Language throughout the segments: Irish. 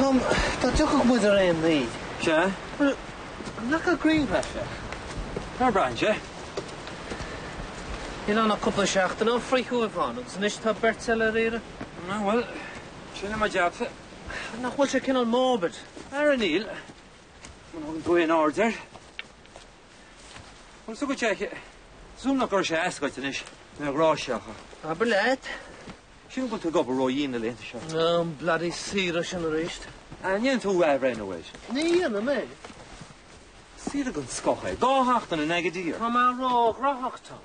Tom, dá dtiocfadh muid ar aon ní. Sea? Bhuel, nac a gcreidfeadh sé? Ná braithfidh sé. Níl ann ach cúpla seachtain ó fríothadh ann agus anois tá beirt eile ar iarraidh. Na bhuel, sin é mo jabsa. Nach bhfuil sé cineál morbid? Ara níl. Má thugann tú aon aird air. Agus tugann sé suaimhneach go raibh sé ascailt anois le an ghrá seo, acha. Ab fhill leat? Sin go bhfuil tú ag obair ró dhian na laethanta seo. An bloody saoire sin arís. An ndéanfaidh tú athbhreithniú air? Ní dhéanfaidh mé. Saoire den scoth é. Dhá sheachtain in Agadir. Tá mé ró-ghnóthach, Tom.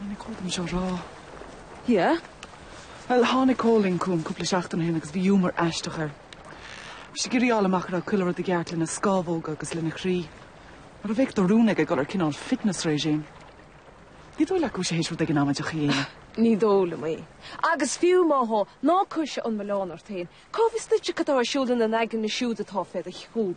Ní cóir dom seo a rá. Yeah? Bhuel, tháinig Cóilín chugam cúpla seachtain ó shin agus bhí iúmar aisteach air. Bhí sé ag iarraidh a fháil amach a raibh chuile rud i gceart lena scámhóga agus lena chroí. Mar a bheadh de rún aige dul ar chineál fitness regime. Ní dóigh leat go bhfuil sé théis rud éigin amaideach a dhéanamh? Ní dóigh liom é. Agus fiú má thá, ná cuirse an milleán ort féin. Cá bhfios duitse cad atá ar siúl ina n-aigne siúd atá fé do chúram?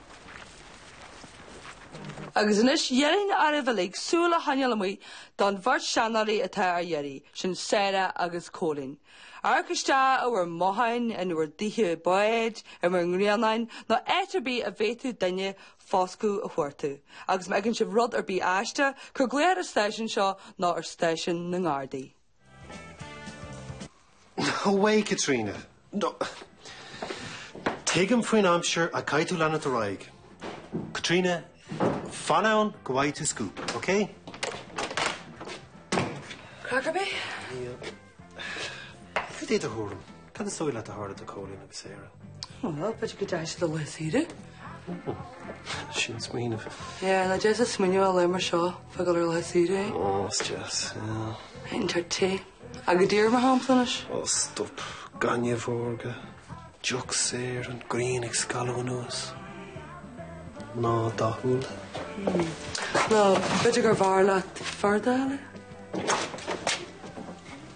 Agus anois d'iarrfainn oraibh uilig súil a choinneáil amuigh don bheirt seanóirí atá ar iarraidh, sin Sarah agus Cóilín. Amharc isteach i bhur mbotháin, in bhur dtithe báid, in bhur ngrianáin, nó áit ar bith a bhféadfadh duine foscadh a thabhairt dóibh, agus má fheiceann sibh rud ar bith aisteach, cuir glaoch ar an stáisiún seo nó ar stáisiún na nGardaí. Away Caitríona! No, tuigim faoin aimsir ach caithfidh tú leanúint ar aghaidh. Caitríona, fan ann go bhfaighidh tú scoop, ok? Craiceann mé? Níl. Cad é do thuairim? Cad is dóigh leat a tharla do Cóilín agus Sarah? Ó, b'fhéidir go ndeachaigh siad ar laethe saoire. Ó, sin smaoineamh. Yeah, nach deas smaoineamh ar laethe mar seo fá dhul ar laethe saoire é. Ó, is deas, yeah. Théann tú áit te. Agadir, mar shampla, anois. Ó, stop. Gaineamh órga. Deoch saor. An ghrian ag scalladh anuas. Mná dathúla. Nó, b'fhéidir gurbh fhearr leat fear dathúil é?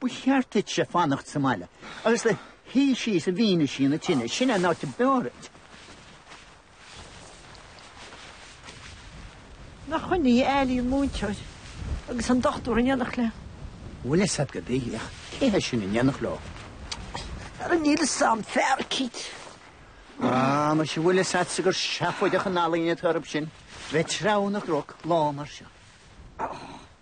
Ba cheart duitse fanacht sa mbaile agus luí síos i bhfianaise na tine. Sin é an áit ab fhearr duit. Nach shin í a éilíonn múinteoir agus an dochtúir in éineacht leo. bhfuil 'fhios a'd go bhféadfadh cé hé sin in éineacht leo. Ara níl 'fhios a'm, fear eicínt. Ah, mar sin bhfuil 'fhios a'dsa gur seafóideach an ealaín atá oraibh sin, bheith ag treabhadh na gcnoc lá mar seo.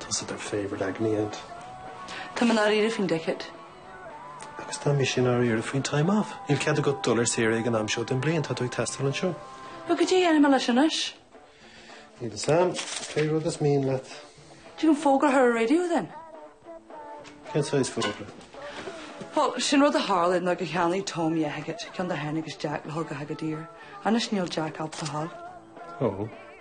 Tusa their favourite agony aunt. Táim i ndáiríre faoin decade. Agus tá mise i ndáiríre faoin time off. Níl cead agat dul ar saoire ag an am seo den bhliain, tá tú ag teastáil anseo. Bhuel, goidé a dhéanfaidh mé leis anois? Níl a fhios agam, pé rud is mian leat. An dtig linn fógra a chur ar an radio then? Cén saghas fógra? Bhuel, sin rud a tharla nuair a cheannaigh Tom Yeheged, ceann de Heineg's Jack, le hOgahagadir. Anois níl Jack ábalta é a fháil. Ó.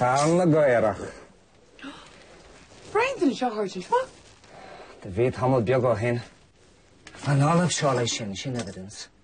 Carn na gcaorach. Brainfinn anseo tháirgí seo. Do bhí tamall beag ó shin. An Ollamh Seoighe sin, sin evidence.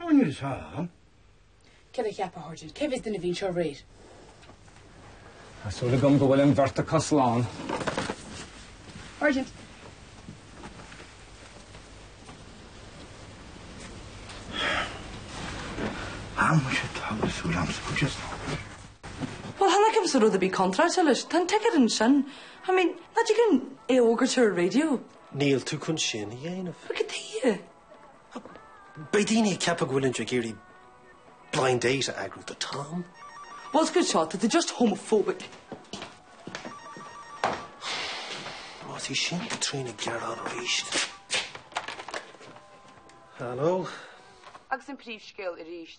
Ná níl is ea ann. Cad a cheapfá a tharla ansin? Cé bhfios dúinn a bhí anseo aréir? Tá súil agam go bhfuil an bheirt acu slán. Sergeant. Tá mise togha súil a'msa go dtí slán. Bhuel, tháinig a'msa rud a bhí contráilte leis. Tá an tic ar an sin. I mean, nach dtig linn é a fhógairt ar an raidió. Níl tú chun sin a dhéanamh. Goidé? Beidh daoine ag ceapadh go bhfuilimid ag iarraidh blind date a eagrú do Tom. Más rud seo, tá tú just homophobic. Más í sin Caitríona ag gearán arís. Hello. Agus an príomhscéal arís.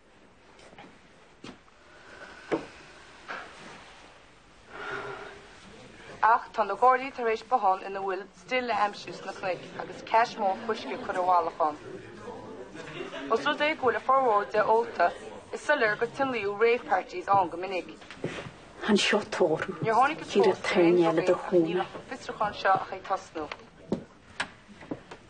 Ach tá na Gardaí tar éis bothán ina bhfuil stil a aimsiú sna cnoic agus cache mór fuisce curtha i bhfolach ann. Ós rud é go bhfuil a fhormhór de ólta, is soiléir gur tionóladh rave parties ann go minic. An seo toradh. Níor thángthas fós ar aon drugaí ach níl an fiosrúchán seo ach ag tosnú.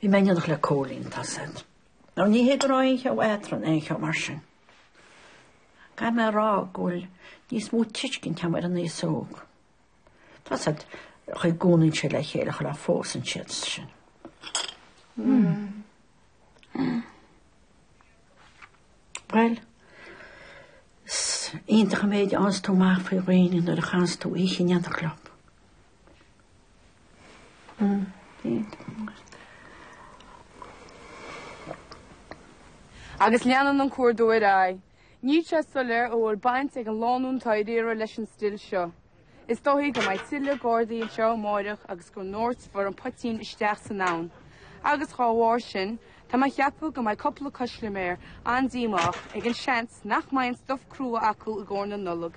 Bhí mé in éineacht le Cóilín, tá a fhios agat. Nó ní hé go raibh aon cheo eadrainn, aon cheo mar sin. Caithfidh mé a rá go bhfuil níos mó tuiscint agam ar an aos óg. Tá a fhios agat, an chaoi a gcónaíonn siad le chéile sula bpósann siad sin. Bhuel, is iontach an méid a fhaigheanns tú amach faoi dhaoine nuair a chaitheanns tú oíche in éineacht leo. Agus leanann an cuardú ar aghaidh. Níl sé soiléir an bhfuil baint ag an lánúin atá ar iarraidh leis an stil seo. Is dóichí go mbeidh tuilleadh Gardaí anseo amáireach agus go ndoirtfear an poitín isteach san abhainn. Agus dá bharr sin, tá mé a cheapadh go mbeidh cúpla custaiméir an-díomách ag an seans nach mbeidh an stuif crua acu i gcomhair na Nollag.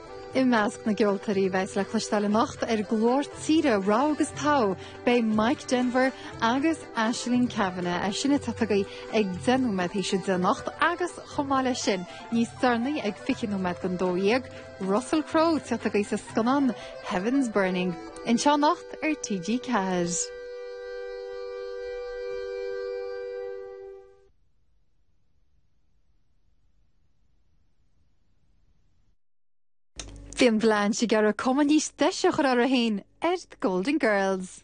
I measc na gceoltóirí a bheas le cloisteáil anocht ar Glór Tíre Rogha agus Togha beidh Mike Denver agus Aisling Kavanagh, é sin ag tíocht chugaibh ag 10 nóiméad théis 10 anocht, agus chomh maith leis sin, níos deireanaí ag 20 nóiméad go 12, Russell Crowe ag tíocht chugaibh sa scannán Heaven's Burning. Anseo anocht ar TG4. Bhí an bhleán si gar a cuma níos deise chur ar a hain ar Golden Girls.